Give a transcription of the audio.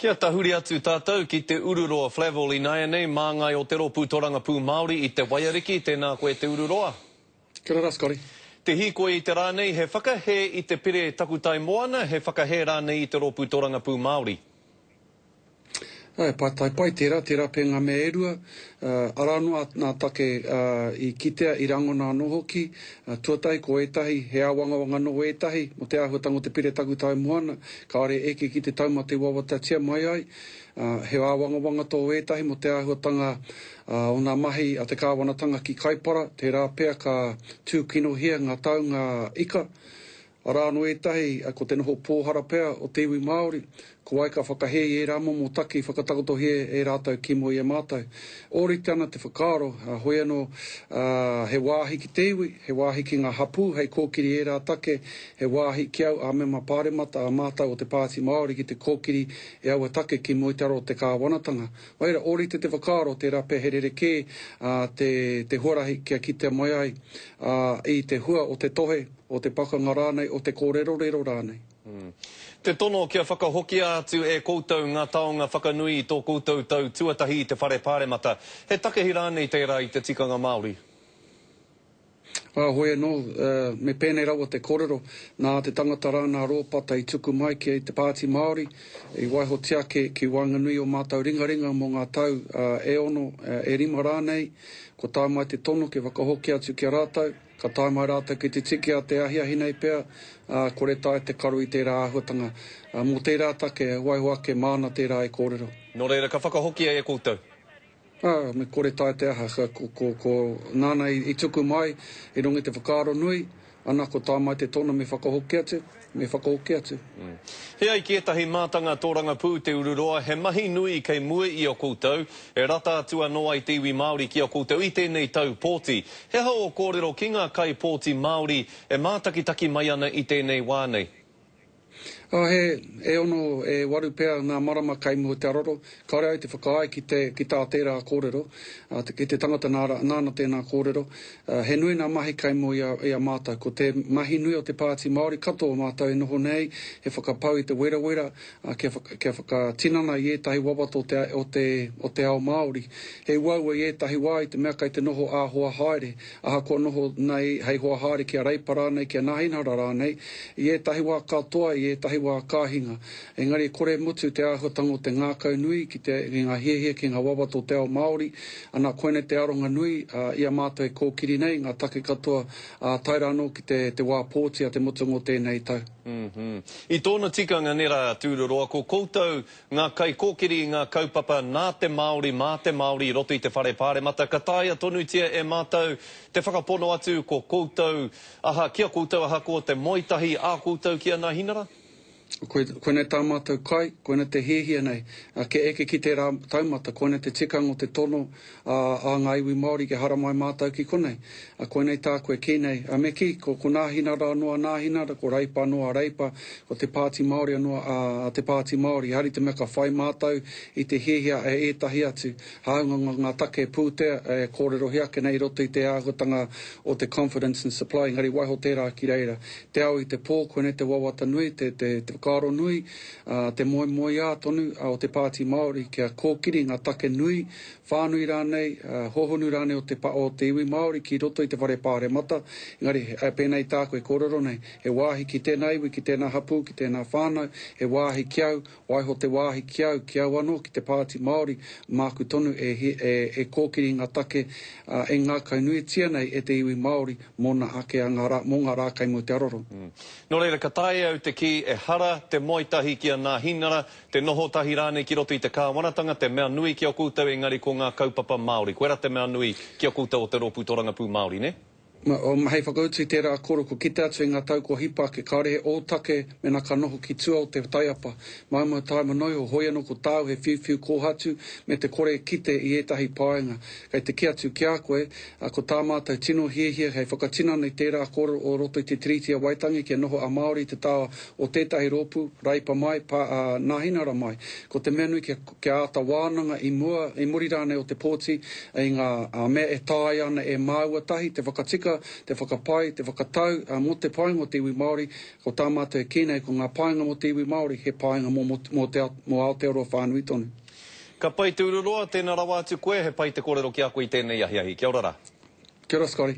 Kia tahuri atu tātou ki te ururoa Flavell ināianei māngai o te Rōpū Torangapū Māori i Te Waiariki, tēnā koe te ururoa. Kia ora, Scotty. Te hīkoi i te rā nei, he whakahē i te pire takutai moana, he whakahē rānei i te Rōpū Torangapū Māori. He pātai pai tērā, tērā pea ngā mea e rua, arā noa ngā take i kitea, i rangona anō hoki. Tuatahi ko ētahi, he āwangawanga nō ētahi mō te āhuatanga o te pire takutai moana, Kāore eke ki te taumata i wawatatia mai ai, ā, he āwangawanga tō ētahi mō te āhuatanga o ngā mahi a te kāwanatanga ki Kaipara, tērā pea ka tūkinohia ngā taunga ika. Arā anō ētahi, ko te noho pōhara pea o te iwi Māori, ko wai ka whakahē i ērā momo taki whakatakotohia e rātou ki mua i a mātou. Ōrite ana te whakaaro, hoi anō, ā, he wāhi ki te iwi, he wāhi ki ngā hapū hei kōkiri i ērā take He wāhi ki au ā-mema pāremata ā mātau o te Pāti Māori ki te kōkiri e aua take ki mua i te aro o te kāwanatanga. Whaira, ōrite te whakaaro, tērā pea he rerekē te huarahi kia kitea mai ai i te hua o te tohe, o te pakanga rānei, o te kōrerorero rānei. Te tono kia whakahokia atu e koutou ngā taonga whakanui i tō koutou tau tuatahi i te Whare Pāremata. He takehi rānei tērā i te tikanga Māori? Ā, hoi anō, me pēnei rawa te kōrero, nā te tangata rā nā Rōpata i tuku mai ki te Pāti Māori, i waiho tiake ki waenganui o mātou ringaringa mō ngā tau e ono, e rima rānei, kua tae mai te tono kia whakahoki atu ki a rātou, ka tae mai rātou ki te tiki a te ahiahi nei pea, ā, kore taea te karo i tērā āhuatanga. Mō tērā take, waiho ake māna tērā e kōrero. Nō reira, ka whakahokia e koutou. Ā, me kore tae te aha, ka, ko, ko, ko, nāna i, i tuku mai, i runga i te whakaaro nui, ana, ko tā mai te tono me whakahoki atu, me whakahoki atu. He ai ki ētahi mātanga tōrangapū te ururoa, he mahi nui kei mua i a koutou, e rata atu anō ai te iwi Māori ki a koutou i tēnei tau pōti. He aha ō kōrero ki ngā kaipōti Māori e mātakitaki mai ana i tēnei wā nei? Ā, he e ono, e waru pea ngā marama kei mua o te aroro, kāore au te whakaae ki te, ki tā tērā kōrero, ā, ki te tangata nā, nāna tēnā kōrero, ā, he nui nā mahi kei mua i a, i a mātou. Ko te mahi nui o te Pāti Māori katoa o mātou e noho nei, he whakapau i te werawera, ā, kia, kia whakatinana i ētahi wawata o te, o te, o te ao Māori. He uaua i ētahi wā i te mea kei te noho ā-hoa haere, Ahakoa noho nei hei hoa haere ki a Reipa rānei, ki a Nāhinara rānei, i ētahi wā katoa, i ētahi wā ka hinga. Engari i kore e mutu te āhuatanga o te ngākau nui ki te, ki ngā hiahia, ki ngā wawata o te ao Māori. Anā, koinei te aronga nui i a mātou e kōkiri nei, ngā take katoa, ā, tae rā anō ki te, te wā pōti a te mutunga o tēnei tau. I tōna tikanga nē rā, Tūruroa, ko koutou Ngā kaikōkiri i ngā kaupapa nā te Māori, mā te Māori i roto i te Whare Pāremata, ka taea tonutia e mātou te whakapono atu ko koutou aha, ki a koutou ahakoa te moe tahi ā koutou ki a Nāhinara? Koe, koinei tā mātou kai, koina te hiahia nei, kia eke ki tērā taumata, koina te tikanga o te tono a, a ngā iwi Māori kia haramai mātou ki konei. A koinei tāku e kī nei, a me kī, ko, ko Nāhinara anō a Nāhinara, ko Reipa anō a Reipa, ko Te Pāti Māori anō a, a Te Pāti Māori. Engari te mea ka whai mātou i te hiahia e ētahi atu, hāunga ngā, ngā take pūtea e kōrerohia ake nei i roto i te āhuatanga o te confidence and supply, engari waiho tērā ki reira. Te ao i te pō, koinei te wawata nui, te, te, te whakaaro nui, a, te moemoeā tonu o Te Pāti Māori kia kōkiri ngā take nui, whānui rānei, hōhonu rānei o te pa o te iwi Māori ki roto i te whare pāremata, engari pēnā i tāku e kōrero nei, he wāhi ki tēnā iwi, ki tēnā hapū, ki tēnā whānau, he wāhi ki au, waiho te wāhi ki au, ki au anō, ki te Pāti Māori, māku tonu e e kōkiri i ngā take e ngākaunuitia nei e te iwi Māori mōna ake a ngā rā, mō ngā rā kei mua te aroro. Nō reira, ka taea au te kī, ehara te moe tahi ki a Nāhinara, Te noho tahi rānei ki roto i te Kāwanatanga, te mea nui ki a koutou engari ko ngā kaupapa Māori. Koirā te mea nui ki a koutou o te Rōpū Torangapū Māori, nē? Mā, hei whakautu i tērā kōrero kua kite atu i ngā tau kua hipa ake, kāore he ōtake mēnā ka noho ki tua o te taiapa, maumau tāima noa iho, hoi anō ko tāu he whiuwhiu kōhatu me te kore e kite i ētahi paenga. Kei te kī atu ki a koe, ko tā mātou tino hiahia hei whakatinana i tērā kōrero o roto i te Tiriti o Waitangi kia noho a Māori i te taha o tētahi rōpū, Raipa mai, pa, ā, Nāhinara mai. Ko te mea nui kia, kia āta wānanga i mua, i muri rānei o te pōti, i ngā, ā, mea e taea ana e māua tahi te whakatika, te whakapai, te whakatau, ā, mō te painga o te iwi Māori, ko tā mātou e kī nei, ko ngā painga mō te iwi Māori, he painga mō, mō, mō te, mō Aotearoa whānui tonu. Ka pai te ururoa, tēnā rawa atu koe, he pai te kōrero ki a koe i tēnei ahiahi. Kia ora rā. Kia ora, Scotty.